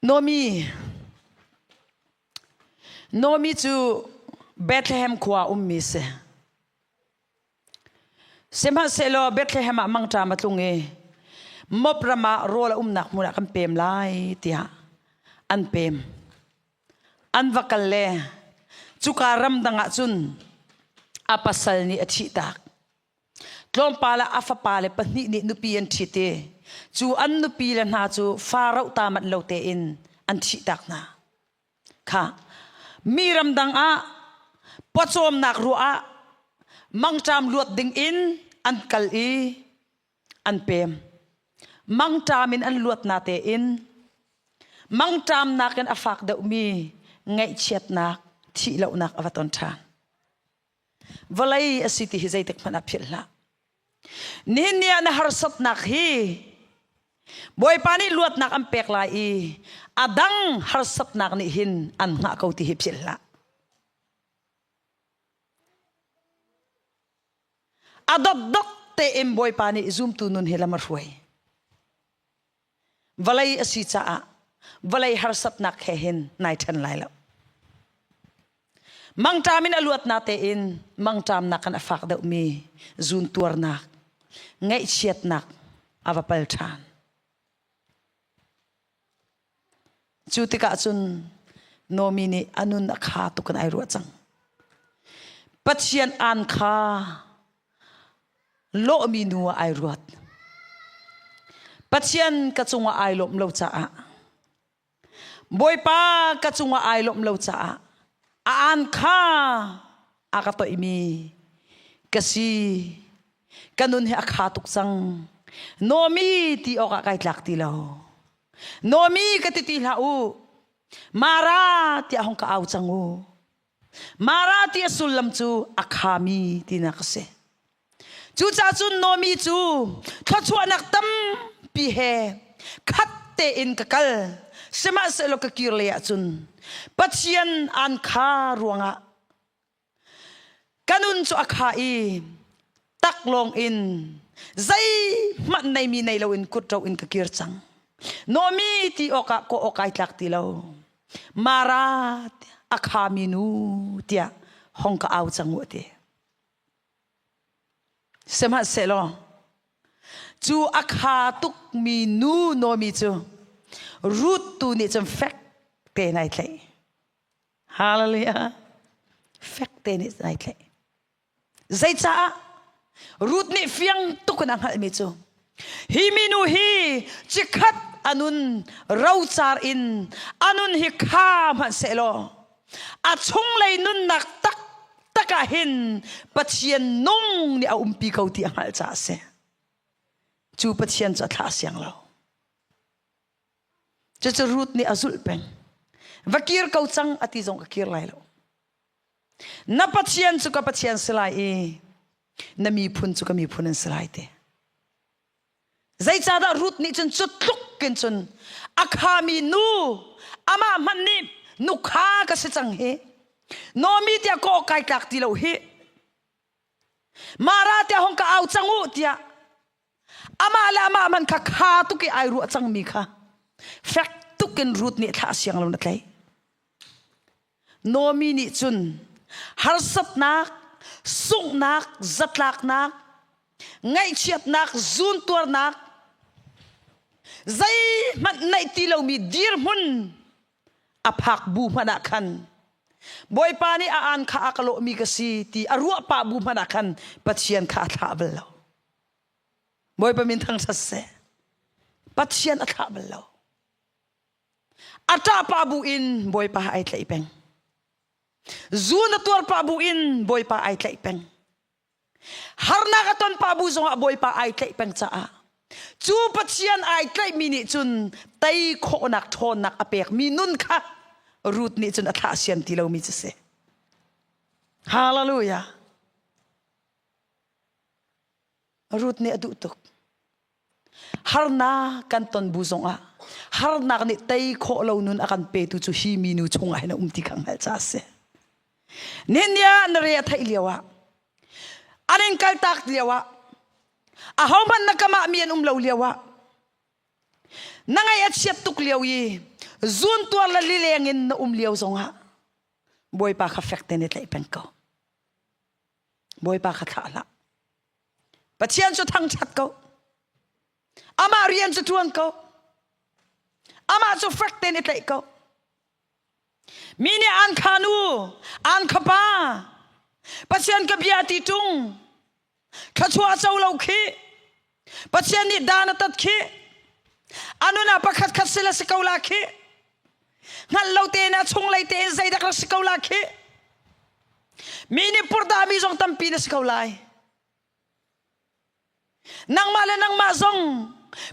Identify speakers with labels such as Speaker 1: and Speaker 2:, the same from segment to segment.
Speaker 1: Nomi Nomi cu Bethlehem khua ummi si. Sihmanhsehlaw Bethlehem ah mangṭam a tlung i mop ram ah rawl a umnak hmun ah kan pem lai tiah an pem. An va kal le cuka ramdang ah cun a pasal nih a thihtak. Tlawmpal ah a fapa le pahnih nih nupi an ṭhit i cu an nupi le hna cu fa roh ta manh lo tein an thihtak hna. Kha mi ramdang ah pawcawmnak ruah ah mangṭam luat ding in an kal i an pem. Mangṭam in an luat na tein mangṭamnak in a fak deuhmi ngaihchiatnak thih lonak a va ton ṭhan. vawlei a si ti hi zeitik hmanh ah philh hlah nihin ni ah na harsatnak hi bawipa nih luatnak an pek lai i a dang harsatnak nih hin an hngah ko ti hi philh hlah a dotdok tein bawipa nih zumtu nun hi lam a hruai vawlei a si caah vawlei harsatnak he hin nai ṭhen lai lo mangṭam in a luat na tein mangṭamnak in a fak deuhmi zuntuarnak ngaihchiatnak a va pal ṭhan cu tikah cun Nomi nih a nun a kha tuk in ai ruah cang Pathian aan kha lawhmi nu ah ai ruat. Pathian ka cungah ai lawmh lo caah Bawipa ka cungah ai lawmh lo caah a aan kha a ka toihmi ka si ka nun hi a kha tuk cang nomi ti awkah kai tlak ti lo nomi ka ti ti hlah u mara tiah hong ka au cang u Mara ti a sullam cu a khami tinak a si. Cucaah cun Nomi cu thluachuahnak tampi he khat tein ka kal. Sihmahsehlaw ka kir lei ahcun Pathian aan kha ruangah ka nun cu a kha i taklawng in zeihmanh neimi nei loin kutro in ka kir cang nomi ti awkah kawh awk ai tlak ti lo mara a khami nu tiah hong ka au cang u ti sihmahsehlaw cu a kha tukmi nu nomi cu ruth tu nih cun fek te nai tlaih hallelujah fek te nih nai tlaih Zeicah? Ruth nih fiang tuk in a hngalhmi cu hi minu hi cikhat a nun rocar in a nun hi kha hmanhsehlaw a chunglei nunnak taktak ah hin Pathian nung nih a umpi ko ti a hngalh caah a si. Cu Pathian cu a thlah siang lo. Cucu Ruth nih a zulh peng. Va kir ko cang a ti zong ka kir lai lo. Na Pathian cu ka Pathian si lai i na miphun cu ka miphun an si lai te. Zeicahdah Ruth nih cun cut tluk in cun a khami nu amah hmanh nih nukha ka si cang hi Nomi tiah kawh kai tlak ti lo hi Mara tiah hong ka au cang u tiah Amah le amah man kha kha tuk i ai ruah cangmi kha fek tuk in Ruth nih thla a siang lo na tlaih. Nomi nih cun harsatnak, sunghnak, zatlaknak, ngaihchiatnak, zuntuarnak, zeihmanh neih ti lomi dirhmun a phak bu hmanh ah khan Bawipa nih a aan kha a ka lawhmi ka si ti a ruah pah bu hmanh ah khan Pathian kha a thlah bal lo. Bawipa min thangṭhat seh. Pathian a thlah bal lo. A ṭah pa bu in Bawipa ai tlaih peng. Zu na tuar pa bu in Bawipa ai tlaih peng. Harnak a ton pa bu zongah Bawipa ai tlaih peng caah cu Pathian ai tlaihmi nih cun tei khawhnak ṭhawnnak a pekmi nun kha Ruth nih cun a thlah siam ti lomi cu si. Hallelujah. Ruth nih a duh tuk. Harnak kan ton bu zongah harnak nih tei khawh lo nun a kan petu cu hi minu chungah hin a um ti kha hngalh ca a si. Nih nia na re a theih lio ah an in kaltak lio ah a hohmanh na kamah mi an um lo lio ah na ngaih a chiat tuk lio i zun tuar la lileng in na um lio zongah bawipa kha fek te ne tlaih peng ko Bawipa kha thlah hlah. Pathian cu thangṭhat ko. Amah rian cu ṭuan ko. Amah cu fek tein i tlaih ko. Mi nih an khan u, an khapa, Pathian ka bia ti ṭung, thluachuah co lo khi Pathian nih dan a tat khi a nun ah pakhat khat sila si ko la khi hngalh lo te in a chung lei te in zeidak rak si ko la khi mi nih purhdah mi zong tampi na si ko lai nangmah le nangmah zong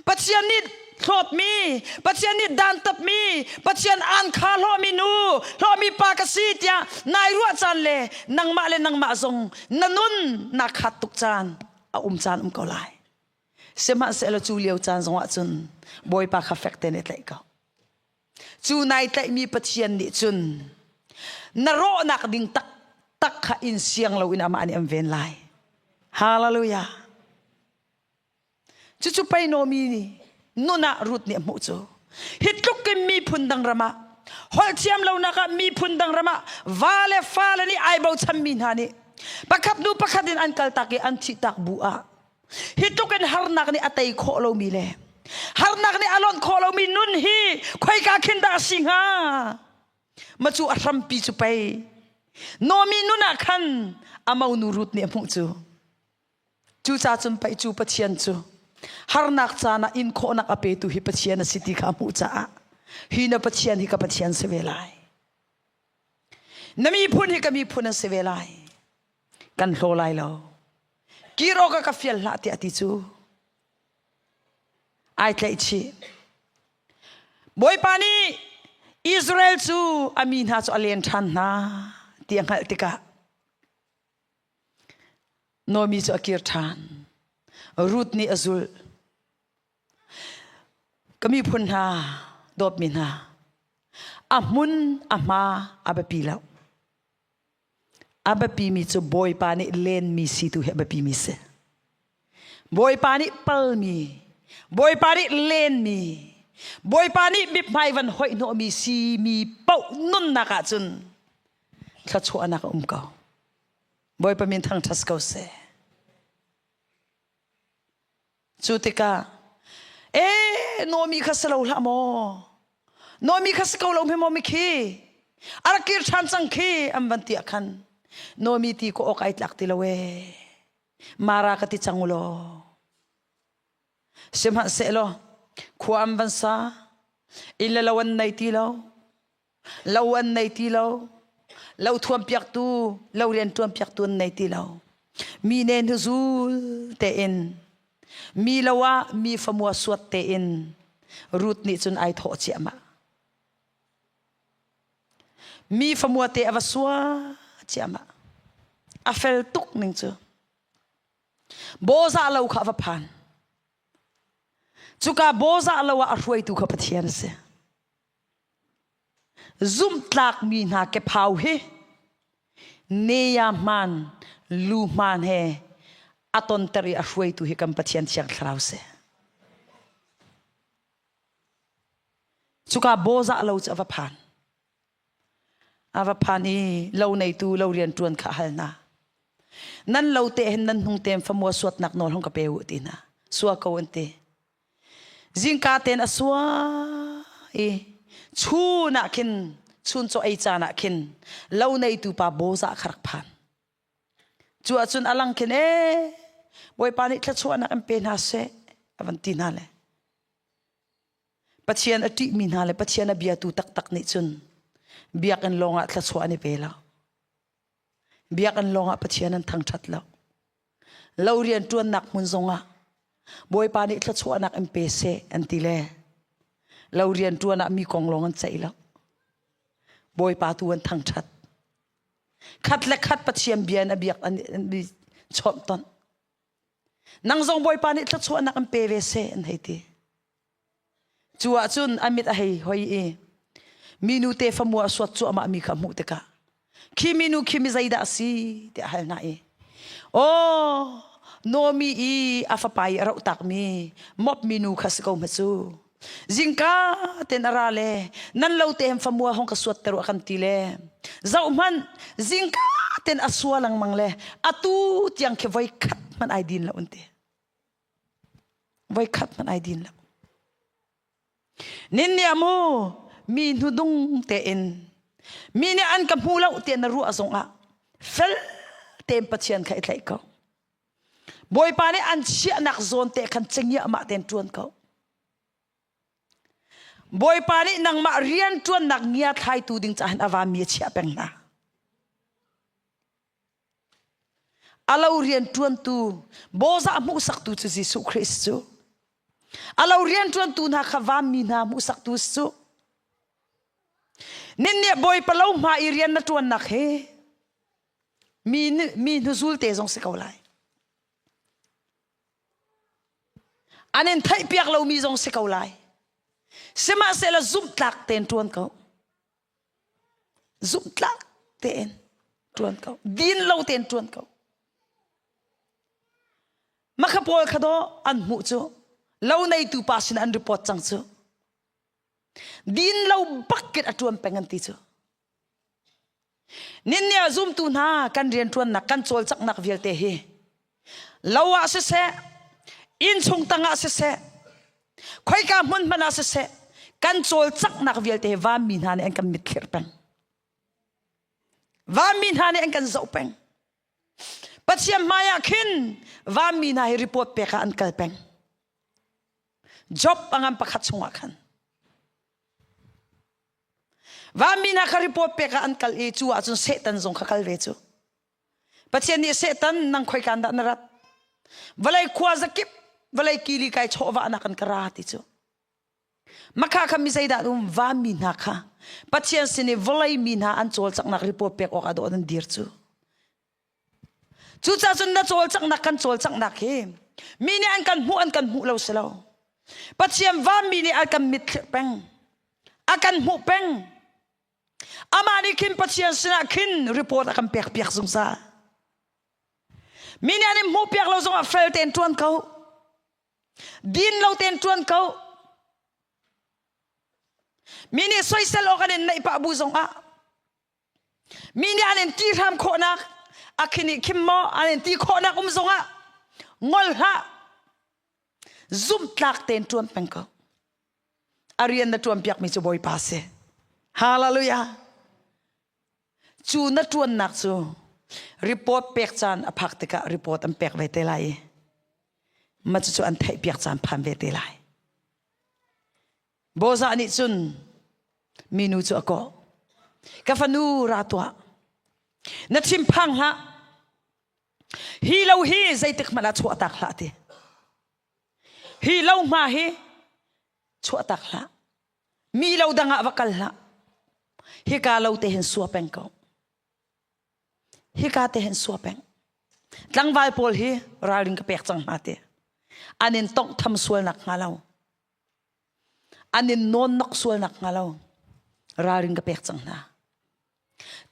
Speaker 1: pathian nih hlawtmi pathian nih dantapmi pathian aan kha hlawmi nu hlawmi pa ka si tiah nai ruah caan le nangmah le nangmah zong na nun naa khat tuk caan a um caan um ko lai sihmahsehlaw cu lio caan zongah cun bawipa kha fek te ne tlaih ko cu nai tlaihmi pathian nih cun na rawhnak ding tak tak kha in siang loin amah nih an ven lai hallelujah cucu pei nomi nih nun ah rut nih a hmuh cu hi tluk in miphun dang ram ah holhthiam lonak ah miphun dang ram ah va le fale nih ai bochan mi hna nih pakhat hnu pakhat in an kaltak i an thihtak bu ah hi tluk in harnak nih a tei khawh lomi le harnak nih a lonh khawh lomi nun hi khoika khin dah a si hnga ma cu a hrampi cu pei nomi nun ah khan a monu rut nih a hmuh cu Cucacun pei cu Pathian cu harnak caan ah inkhawhnak a petu hi Pathian a si ti kha hmuh caah hi na Pathian hi ka Pathian si ve lai. Na miphun hi ka miphun an si ve lai. Kan hlaw lai lo. Kir awk a ka fial hlah tiah ti cu ai tlaih chih. Bawipa nih Israel cu a mi hna cu a len ṭhan hna ti a hngalh tikah Nomi cu a kir ṭhan. Ruth nih a zulh. Ka miphun hna, dawtmi hna, a hmun, a hma a biapi lo. A biapimi cu Bawipa nih lenmi si tu hi a biapimi si. Bawipa nih palmi, Bawipa nih lenmi, Bawipa nih mithmai van hoih hnawhmi simi paoh nunnak ahcun thluachuahnak a um ko. Bawipa min thangṭhat ko seh. Cu tikah, e Nomi kha si lo hlah maw. Nomi kha si ko lo hme maw mikhi. A rak kir ṭhan cang khi an van tiah khan. Nomi ti ko awk ai tlak ti lo e. Mara ka ti cang ulo. Sihmanh se lo, khua am van sa, in le lo an nei ti lo. lo an nei ti lo lo thuampiaktu lo rian ṭuanpiaktu an nei ti lo mi ne nu zul tein mi lo ah mi famua suat tein rut nih cun ai thawh ciahmah mi famua te a va sua ciahmah a fel tuk ning cu bawzah lo kha a va phan cuka bawzah lo ah a hruaitu kha pathian a si Zumhtlakmi hna kephau hi neyahman luhman he a tonter i a hruaitu hi kan Pathian Thiang Thlarau si. Cuka bozah lo cu a va phan. A va phan i lo neitu lo rian ṭuan kha hal na. Nan lo te hen nan hnung tem famua suatnak nawl hong ka pe u ti na. Sua ko an ti. zingka ten a sua i chun ah khin chun cu ei caan ah khin lo neitu pa boza kha rak phan cu ahcun a lang khin e bawipa nih thluachuahnak an pe hna seh a van ti hna le pathian a ṭih mi hna le pathian a biatu taktak nih cun biakinn lawngah thluachuah an i pe lo Biakinn lawngah Pathian an thangṭhat lo. Lo rianṭuannak hmun zongah Bawipa nih thluachuahnak in pe seh an ti le lo rianṭuan ah mi kong lawng an ceih lo. Bawipa tu an thangṭhat. Khat le khat Pathian bia in a biak an i chawmh ton. Nang zong Bawipa nih thluachuahnak in pe ve seh an hei ti. Cu ahcun a mit a hei hoi i minu te famu a suat cuahmah mi kha hmuh tikah khi minu khi mi zeidah si tiah hal hna i aw Nomi i a fapa i a roh takmi mop minu kha si ko hma cu zingka ten a ra le nan lo te hem famua hong ka suat te rua kan ti le zau hman zingka ten a sua lengmang le atu tiang khi voi khat hman ai din lo unte Voikhat hmanh ai din lo. Ninniam u mi hnudung tein mi nih an ka hmu lo tiah na ruah zongah fel tein Pathian kha i tlaih ko. Bawipa nih an chiahnak zawn te khan cengiahmah tein ṭuan ko. Bawipa nih nangmah rian ṭuannak ngia thlaitu ding cahin a vaami a chiah peng hna. a lo rianṭuantu bawzah hmuhsaktu cu Jesuh Khrist cu a lo rianṭuantu hna kha vanmi hna hmuhsaktu cu ninniah bawipa lo hma i rian na ṭuannak hi mi mi hnuzul te zong si ko lai an in theihpiak lomi zong si ko lai sihmahsehla zumhtlak tein ṭuan ko zumhtlak tein ṭuan ko din lo tein ṭuan ko makha pawl kha daw an hmuh cu lo neitu pa sin an report cang cu din lo bakin a ṭuan peng an ti cu ninnia zumtu hna kan rian ṭuannak kan cawlcanghnak vialte hi lo ah siseh innchung tang ah siseh khoika hmun hmanh ah siseh kan cawlcanghnak vialte hi vanmi hna nih an kan mitthlir peng vanmi hna nih an kan zoh peng pathian hmai ah khin vanmi hna hi report pek ah an kal peng job angan pakhat chungah khan vanmi hna kha report pek ah an kal i cu ahcun setan zong kha kal ve cu Pathian nih Satan nang khoi kan dah na rat vawlei khua zakip vawlei kili kai chawva na kan kara ti cu makha kha mi zeidah um van mi hna kha pathian sin i vawlei mi hna an cawl caknak ripo pek awk a dawh nan dir cu cucacun na cawl caknak kan cawl caknak hi mi nih an kan hmuh an kan hmuh lo si lo pathian van mi nih a kan mit thlir peng a kan hmuh peng Amah nih khin Pathian sinah khin report a kan pekpiak zungzal. Mi nih an in hmuhpiak lo zongah fel tein ṭuan ko. Din lo tein ṭuan ko. Mi nih soisel awk an in neih pah bu zongah mi nih an in ti hram khawhnak a khin i khim maw an in ti khawhnak um zongah ngol hlah zumtlak tein ṭuan peng ko. a rian na ṭuanpiakmi cu Bawipa si. Hallelujah! Cu na ṭuannak cu report pek caan a phak tikah report an pek ve te lai i ma cucu an theihpiak caan phan ve te lai. Bozah nih cun minu cu a kawh. Ka fanu ra tuah. Na thinphang hlah. Hi lo hi zeitik hmanh ah chuah tak hlah ti. Hi lohma hi chuahtak hlah. Mi lo dang ah va kal hlah. Hika lo te hin sua peng ko. Hika te hin sua peng. Tlangval pawl hi ralring ka pek cang hna te. An in tongh tham sualnak hnga lo. An in non nok sualnak hnga lo. Ralring ka pek cang hna.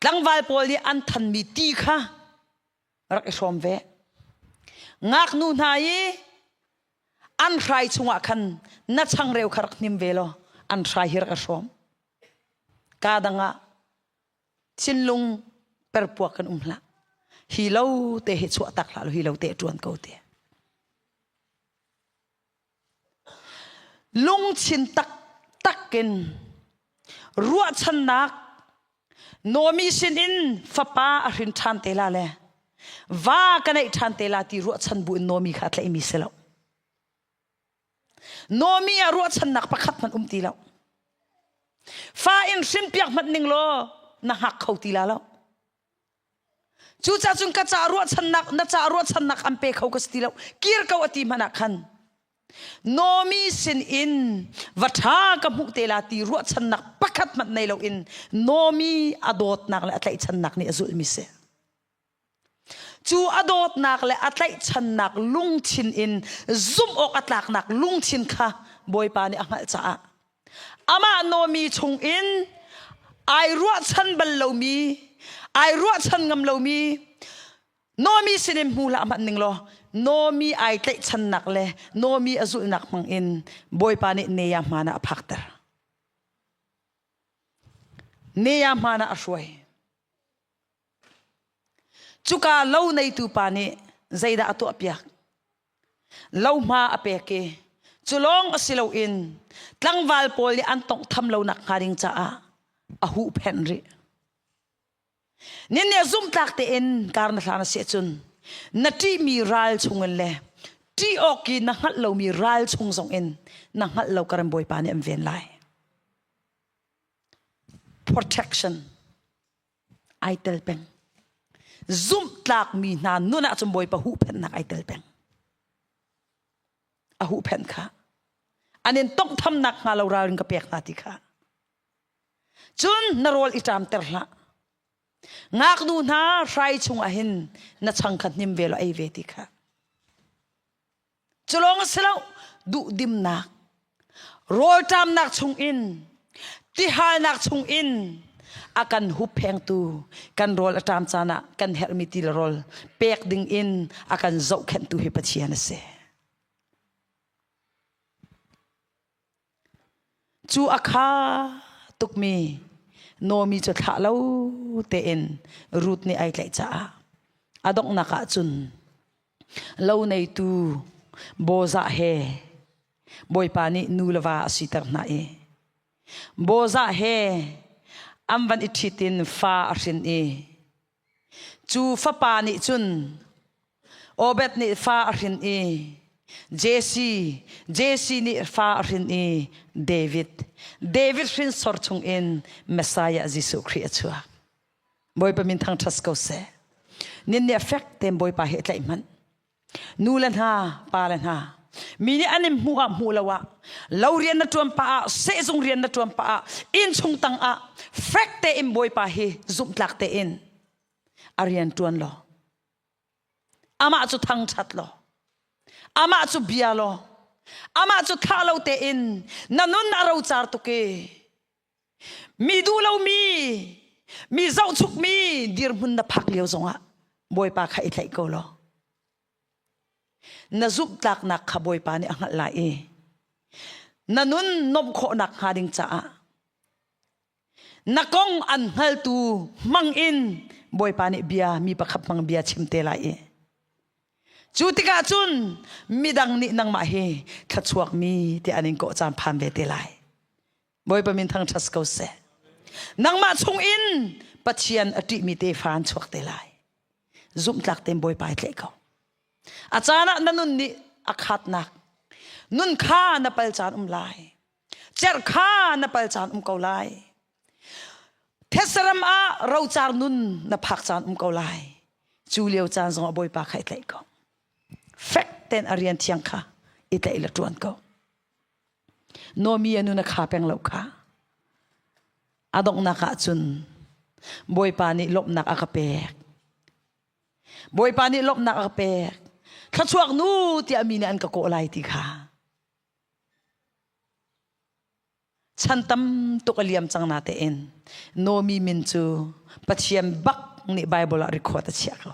Speaker 1: Tlangval pawl nih an thanmi ti kha rak i hrawm ve ngaknu hna i an hrai chungah khan na changreu kha rak hnim ve law an hrai hi rak i hrawm ka dang ah thinlung perpuak kan um hlah hi lo te he chuah tak hlah law hi lo te ṭuan ko te Lungthin taktak in ruahchannak Nomi sinin fapa a hrin ṭhan te la le va ka neih ṭhan te la ti ruahchan buin Nomi kha a tlaihmi si lo. Nomi ah ruahchannak pakhat hmanh um ti lo. Fa in hrinpiak hmanh ning law na hngak kho ti la lo. Cucah cun ka cah ruahchannak na cah ruahchannak an pe kho ka si ti lo kir ko a ti hmanh ah khan Nomi sinin va ṭha ka hmuh te la ti ruahchannak pakhat hmanh nei loin Nomi a dawtnak le a tlaihchannak nih a zulmi si. Cu a dawtnak le a tlaihchannak lungthin in zumh awk a tlaknak lungthin kha Bawipa nih a hngalh caah amah nomi chungin ai ruahchan bal lomi ai ruahchan ngam lomi nomi sinin hmuhla hmanh ning law nomi ai tlaihchannak le nomi a zulhnak hmangin bawipa nih neya hmanah a phakter neya hmanah a hruai Cuka lo neitu pa nih zeidah a tuahpiak? Lo hma a pek i cu lawng a si loin tlangval pawl nih an tawnghtham lonak hnga ding caah a huhphenh rih. Nin nih zumhtlak tein kar na hlan a si ahcun na ṭihmi ral chungin le ṭih awk i na hngalh lomi ral chung zongin na hngalh lo ka ran bawipa nih an ven lai. Protection ai tel peng. Zumhtlakmi hna nun ahcun Bawipa huhphenhnak ai tel peng. A huhphenh kha. An in tonghthamnak hnga lo ral in ka pek hna ti kha. Cun na rawl i ṭamter hlah. Ngaknu hna hrai chung ah hin na changkhat hnim ve law ei ve ti kha. culong a si lo duhdimnak rawlṭamnak chungin tihalnak chungin a kan hupphengtu kan rawl a ṭam caan ah kan herhmi ti le rawl pek ding in a kan zohkhenhtu hi Pathian a si. Cu a kha tukmi Nomi cu thlah lo tein Ruth nih ai tlaih caah a donghnak ahcun lo neitu Bozah he Bawipa nih nu le va a siter hna i Bozah he an van i ṭhit in fa a hrin i Cu fapa nih cun Obed nih fa a hrin i Jesse, Jesse nih fa a hrin i David, David hrinsor chungin Messiah Jesuh Khrih a chuak. Bawipa min thang ṭhas ko seh. Nin nih a fek tein Bawipa hi a tlaih hmanh. nu le hna pa le hna mi nih an in hmuh ah hmuh lo ah lo rian na ṭuan pah ah sehzung rian na ṭuan pah ah innchung tang ah fek tein bawipa hi zumhtlak tein a rian ṭuan law amah cu thangṭhat law amah cu bia law amah cu thlah lo tein na nun a rocar tuk i Mi duh lomi, mi zohchukmi dirhmun na phak lio zongah Bawipa kha i tlaih ko law. Na zumhtlaknak kha Bawipa nih a hngalh lai i na nun nuamh khawhnak hnga ding caah na kong an hngaltu hmang in Bawipa nih bia mi pakhat hmang bia chim te lai i cu tikah cun midang nih nangmah hi thluachuak mi ti an in kawh caan phan ve te lai. Bawipa min thangṭhat ko seh. Nangmah chung in Pathian a ṭihmi tefa an chuak te lai. Zumhtlak tein Bawipa i tleh ko. A caan ah na nun nih a khatnak, nun kha na pal caan um lai. Cer kha na pal caan um ko lai. Thesaram ah rocar nun na phak caan um ko lai. Cu lio caan zong a Bawipa kha i tlaih ko. Fek ten a rian thiang kha i tlaih la ṭuan ko. Nomi anu na kha peng lo kha a donghnak ah cun Bawipa nih lawmhnak a ka pek Bawipa nih lawmhnak a ka pek thluachuak nu tiah mi nih an ka kawh lai ti kha chan tam tuk a liam cang na tein Nomi min cu Pathian bak nih Bible ah record a chiah ko